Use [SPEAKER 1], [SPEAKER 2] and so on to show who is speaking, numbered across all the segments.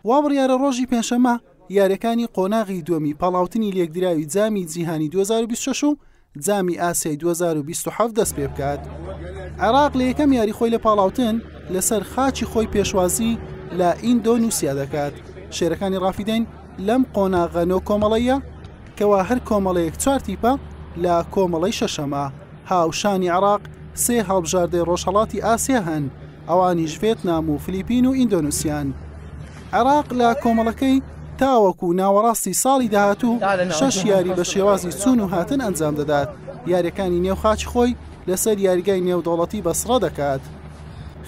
[SPEAKER 1] وابڕیارە ڕۆژی پێنجشەممە یاریەکانی قۆناغی دووەمی پاڵاوتنی لێکدراوی جامی جیهانی 2026 و جامی ئاسیای 2027 دەست پێ بکات. عێراق لە یەکەم یاری خۆی لە پاڵاوتن لەسەر خاچی خۆی پێشوازی لە ئیندۆنووسیا دەکات. شێرەکانی ڕافیدەین لەم قۆناغە نۆ کۆمەڵەیە کەوا هەر کۆمەڵەیەک چوار تیپە لە کۆمەڵەی شەشەمە، هاوشانی عێراق سێ هەڵبژاردەی ڕۆژهەڵاتی ئاسیا هەن، ئەوانیش ڤێتنام و فلیپین و ئیندۆنوسیان. عێراق لە کۆمەڵەکەی تاوەکو ناوەڕاستی ساڵی داهاتوو شەش یاری بە شێوازی چوون و هاتن ئەنجام دەدات، یاریەکانی نێو خاکی خۆی لەسەر یاریگای نێودەوڵەتی بەسڕە دەکات.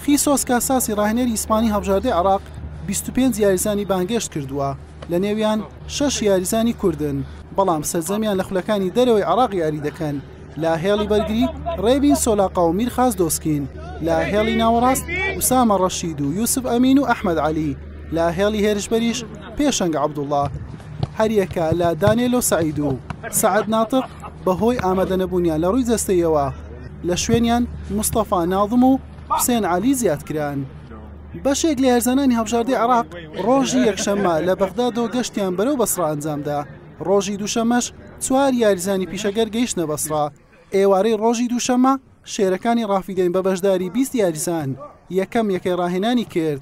[SPEAKER 1] خیسۆس کاساسی ڕاهێنەری ئیسپانی هەڵبژاردەی عێراق بیست و پێنج یاریزانی بانگێشت کردووە. لە نێویان شەش یاریزانی کوردن، بەڵام سەرجەمیان لە خولەکانی دەرەوەی عێراق یاری دەکەن، لە هێڵی بەرگری ڕێبین سۆلاقا و میرخاس دۆسکین، لە هێڵی ناوەڕاست ئوسامە ڕەشید و یوسف ئەمین و ئەحمەد عەلی، لە هێڵی هێرشبەریش پێشەنگ عەبدوڵڵا. هەریەکە لە دانێلۆ سەعید و سەعد ناتق بەهۆی ئامادەنەبوونیان لە ڕووی جەستەییەوە لە شوێنیان مستەفا ناظم و حوسێن عەلی زیادکران. بەشێک لە هێرزانانی هەڵبژاردەی عێراق ڕۆژی یەکشەممە لە بەغدادەوە گەشتیان بەرەو بەسڕا ئەنجامدا ڕۆژی دووشەمەش چوار یاریزانی پیشەگەر گەیشتنە بەسڕا ئێوارەی ڕۆژی دووشەمە شێرەکانی ڕافیدەین بە بەشداری بیست یاریزان یەکەم یەکەی ڕاهێنانی کرد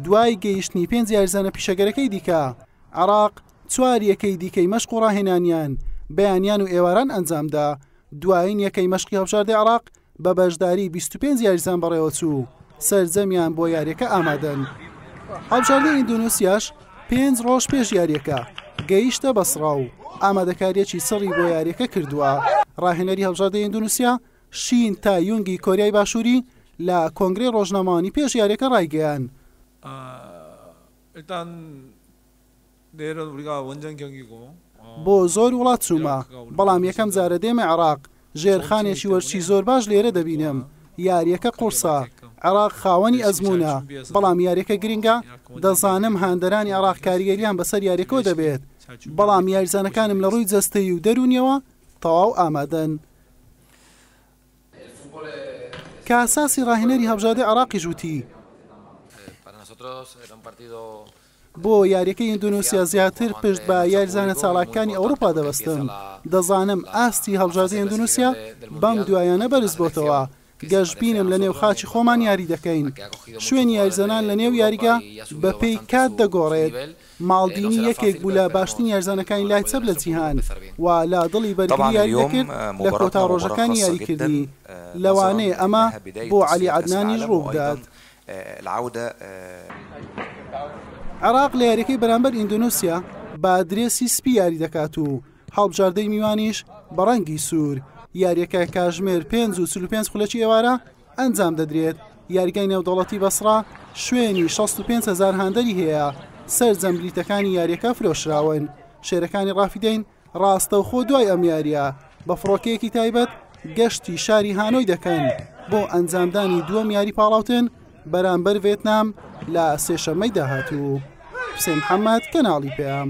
[SPEAKER 1] دوای گەیشتنی پێنج یاریزانە پیشەگەرەکەی دیکە عراق چوار یەکەی دیکەی مەشق و ڕاهێنانیان بەیانیان و ئێواران ئەنجامدا دوایین یەکەی مەشقی هەڵبژاردەی عراق بە بەشداری بیست و پێنج یاریزان بەڕێوەچوو و سەرجەمیان بۆ یارییەکە ئامادەن. هەڵبژاردەی ئیندۆنیسیاش پێنج ڕۆژ پێش یارییەکە گەیشتە بەسڕا و ئامادەکارییەکی چڕی بۆ یارییەکە کردووە. ڕاهێنەری هەڵبژاردەی ئیندۆنیسیا شین تایونگی کۆریای باشووری لە کۆنگرەی ڕۆژنامەوانی پێش یارییەکە ڕایگەیاند، بۆ زۆر وڵات چوومە، بەڵام یەکەم جارە دێمە عێراق، ژێرخانێکی وەرزشی زۆر باش لێرە دەبینم، یارییەکە قوڕسە، عێراق خاوەنی ئەزموونە، بەڵام یارییەکە گرنگە، دەزانم هاندەرانی عێراق کاریگەرییان بەسەر یارییەکەوە دەبێت، بەڵام یاریزانەکانم لە ڕووی جەستەیی و دەروونییەوە تەواو ئامادەن. کاساسی ڕاهێنەری هەڵبژاردەی عێراقیش وتی. بۆ یارییەکەی ئیندۆنیسیا زیاتر پشت بە یاریزانە چالاکەکانی ئەوروپا دەبەستم، دەزانم ئاستی هەڵبژاردەی ئیندۆنیسیا بەم دوایانە بەرزبۆتەوە، گەشبینم لە نێو خاکی خۆمان یاری دەکەین، شوێنی یاریزانان لە نێو یاریگا بە پێی کات دەگۆڕێت، ماڵدینی یەکێک بوو لە باشترین یاریزانەکانی لای چەپ لە جیهان و لە دڵی بەرگری یاری دەکرد لە کۆتا ڕۆژەکانی یاریکردنی، لەوانەیە ئەمە بۆ عەلی عەدنانیش ڕووبدات. عێراق لە یاریەکەی بەرامبەر ئیندۆنوسیا بە درێسی سپی یاری دەکات و هەڵبژاردەی میوانیش بە ڕەنگی سوور یاریەکە کاژمێر 5 و 5 خولەکی ئێوارە ئەنجام دەدرێت یاریگای نێودەوڵەتی بەسرا شوێنی 65هزار هاندەری هەیە سەرجەم بلیتەکانی یاریەکە فرۆشراون شێرەکانی ڕافیدەین ڕاستەوخۆ دوای ئەم یارییە بە فڕۆکەیەکی تایبەت گەشتی شاری هانۆی دەکەن بۆ ئەنجامدانی دووەم یاری پاڵاوتن بەرامبەر ڤێتنام لە سێشەممەی داهاتوو حسێن محەممەد کەناڵی پێام.